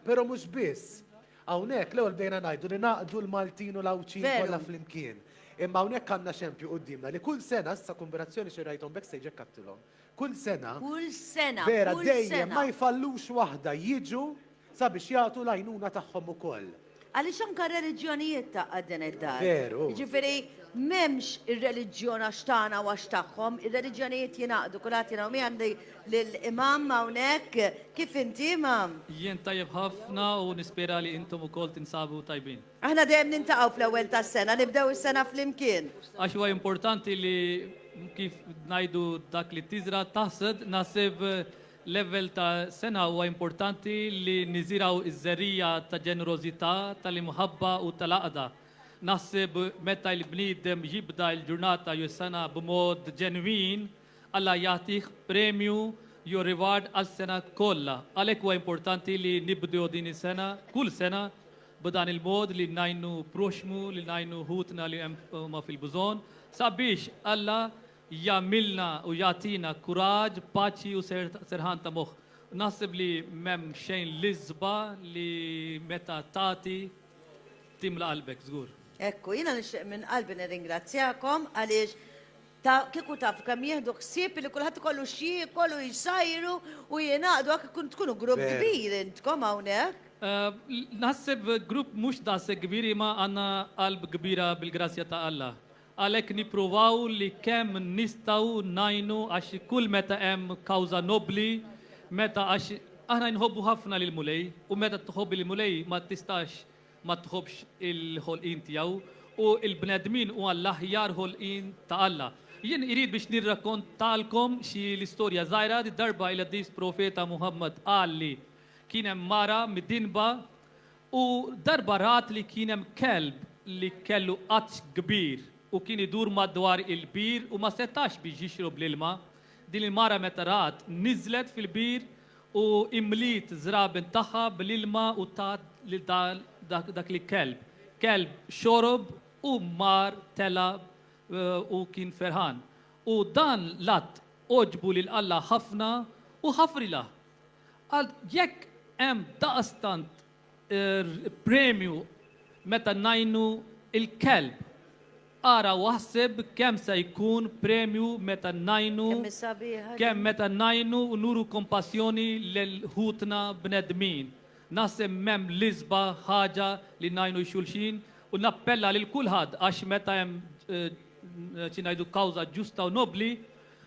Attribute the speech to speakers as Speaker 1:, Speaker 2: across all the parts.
Speaker 1: Però mhux biss. Hawnhekk l-ewwel bdejna ngħidu li naqdu l-Maltin u l-Għawdxin Veru. kollha flimkien. Imma hawnhekk għandna xempju quddiemna li kull sena, issa kombinazzjoni xi rajthom backstage hekk għadtilhom, kull sena, Kull sena,
Speaker 2: vera kull dejjem sena. ma jfallux
Speaker 1: waħda jiġu sabiex jagħtu l-għajnuna tagħhom ukoll. Għaliex anke
Speaker 2: r-reliġjonijiet taqqa' din id-dar. Veru. Jiġifieri m'hemmx ir-reliġjon għax tagħna u għax tagħhom, ir-reliġjonijiet jingħaqdu, kulħadd jingħaqad. U mi għandi lill-Imam hawnhekk. Kif inti, Imam? Jien tajjeb ħafna
Speaker 3: u nispera li intom ukoll tinsabu tajbin. Aħna dejjem niltaqgħu
Speaker 2: fl-ewwel tas-sena, nibdew is-sena flimkien. Għax huwa importanti
Speaker 3: li kif ngħidu dak li tiżra' taħsad, naħseb Level ta' sengħa huwa importanti li niżirgħu ż-żerriegħa ta' ġenerożità, tal-imħabba u tal-għaqda. Naħseb meta l-bniedem jibda l-ġurnata jew is-sengħa b'mod ġenwin, Alla jagħtih premju jew reward għas-sengħa kollha. Għalhekk huwa importanti li nibdew din is-sengħa, kull sengħa, b'dan il-mod li ngħinu proxxmu, li ngħinu ħutna li huma fil-bżonn, sabiex Alla jagħmilna u jagħtina kuraġġ, paċi u serħan ta' moħħ. Naħseb li m'hemm xejn l-isba' li meta tagħti timla qalbek, żgur. Hekk hu. Jiena nixtieq
Speaker 2: minn qalbi nirringrazzjakom għaliex ta' kieku tafu kemm jieħdu ħsieb li kulħadd ikollu x'jiekol u jsajru u jingħaqdu hekk ikun tkunu grupp kbir intkom hawnhekk. Naħseb
Speaker 3: grupp mhux daqshekk kbir imma għandna qalb kbira bil-grazzja ta' Alla. Għalhekk nippruvaw li kemm nistgħu ngħinu għax kull meta hemm kawża nobbli, meta għax aħna nħobbu ħafna lill-Mulej u meta tħobb il-Mulej ma tistax ma tħobbx il-ħolqien tiegħu u l-bnedmin huwa l-aħjar ħolqien ta' Alla. Jien irid biex nirrakkontalkom xi l-istorja żgħira, darba il-qaddis profeta Muhammad qal li kien hemm mara midinba U darba rat li kien hemm kelb li kellu għatx kbir u kien idur madwar il-bir u ma setax biex jixrob l-ilma. Din il-mara meta rat, niżlet fil-bir u imliet żraben tagħha bl-ilma u tat lil dak l-kelb. Kelb xorob u mar tela' u kien ferħan. U dan l-att għoġbu lil Alla ħafna u ħafrilha. Għal jekk hemm daqstant premju meta ngħinu l-kelb, ara u aħseb kemm se jkun premju meta ngħinu Kemm hi sabiħa
Speaker 2: kemm din. meta ngħinu
Speaker 3: u nuru kompassjoni lil ħutna bnedmin. Naħseb m'hemm l-isba' ħaġa li ngħinu x-xulxin u nappella lil kulħadd għax meta hemm xi ngħidu kawża ġusta u nobbli,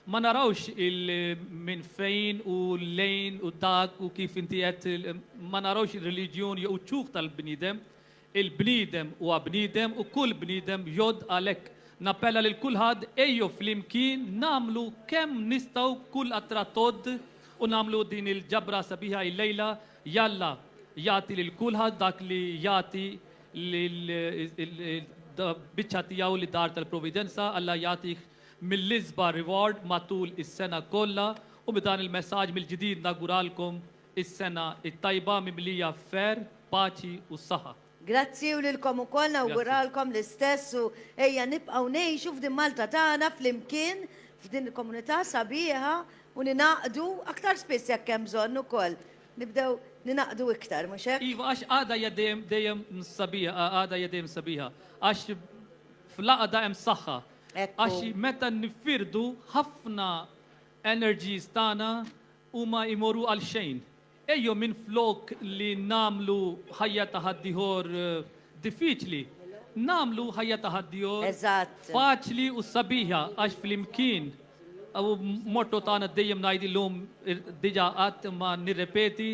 Speaker 3: Ma narawx il minn fejn u lejn u dak u kif inti għedt, ma narawx ir-reliġjun jew iċ-ċuħ tal-bniedem. Il-bniedem huwa bniedem u kull bniedem jgħodd għalhekk nappella lil kulħadd ejjew flimkien nagħmlu kemm nistgħu kull qatra tgħodd u nagħmlu din il-ġabra sabiħa illejla jalla jagħti lil kulħadd dak li jagħti lil biċċa tiegħu lid-dar tal-providenza Alla jagħtih mill-isba' reward matul is-sena kollha u b'dan il-messaġġ mill-ġdid nawguralkom is-sena t-tajba mimlija f'kher, paċi u s-saħħa. Grazzi u lilkom
Speaker 2: ukoll nawguralkom l-istess u ejja nibqgħu ngħixu f'din Malta tagħna flimkien f'din il-komunità sabiħa u ningħaqdu aktar spiss jekk hemm bżonn ukoll nibdew ningħaqdu iktar mhux hekk? Iva għax għaqda hija dejjem
Speaker 3: dejjem sabiħa għaqda hija dejjem sabiħa għax fl-għaqda hemm saħħa Għax
Speaker 2: meta
Speaker 3: niffirdu ħafna energies tagħna huma jmorru għal xejn. Ejjew minflok li nagħmlu ħajja ta' ħaddieħor diffiċli, nagħmlu ħajja ta' ħaddieħor faċli
Speaker 2: u
Speaker 3: sabiħa għax flimkien u motto tagħna dejjem ngħid illum diġà għadt imma nirrepeti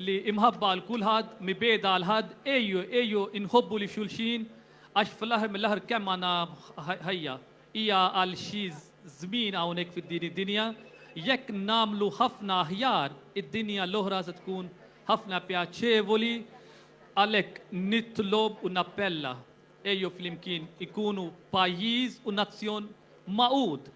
Speaker 3: li imħabba għal kulħadd, mibgħeda għal ħadd, ejjew ejjew inħobbu lil xulxin Għax fl-aħħar mill-aħħar kemm għandna ħajja? Hija għal xi żmien hawnhekk fid-din id-dinja. Jekk nagħmlu ħafna aħjar, id-dinja l-oħra se tkun ħafna pjaċevoli. Għalhekk nitlob u nappella, ejjew flimkien ikunu pajjiż u nazzjon magħqud.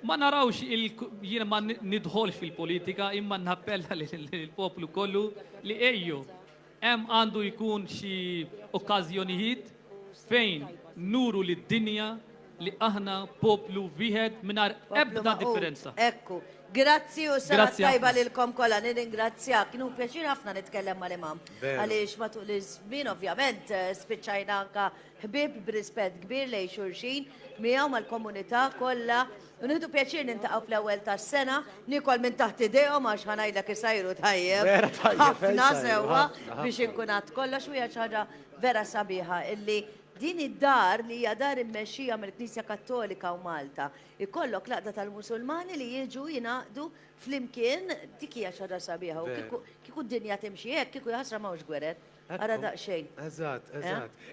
Speaker 3: Ma narawx il jiena ma nidħolx fil-politika imma nappella lill-poplu kollu li ejjew Hemm għandu jkun xi okkażjonijiet fejn nuru lid-dinja li aħna poplu wieħed mingħajr ebda differenza. Ekku.
Speaker 2: Grazzi u s-sena t-tajba lilkom kollha.
Speaker 3: Nirringrazzjak.
Speaker 2: Kienu pjaċir ħafna nitkellem mal-imam. Għaliex matul
Speaker 1: iż-żmien
Speaker 2: ovvjament eh, spiċċajna anka ħbib b'rispett kbir lejn xulxin miegħu mal-komunità kollha. U nieħdu pjaċir niltaqgħu fl-ewwel tas-sena, niekol minn taħt idejhom għax ħa ngħidlek isajru tajjeb. Vera tajjeb. Ħafna
Speaker 1: sewwa biex inkun
Speaker 2: għadt
Speaker 1: kollox
Speaker 2: u hija
Speaker 1: xi
Speaker 2: ħaġa vera sabiħa illi din id-dar li hija dar immexxija mill-Knisja Kattolika u Malta ikollok l-għaqda tal-Musulmani li jiġu jingħaqdu flimkien dik hija xi ħaġa sabiħa u kieku d-dinja timxi hekk kieku jaħasra m'hawnx gwerer. Ara daqsxejn. Eżatt, eżatt.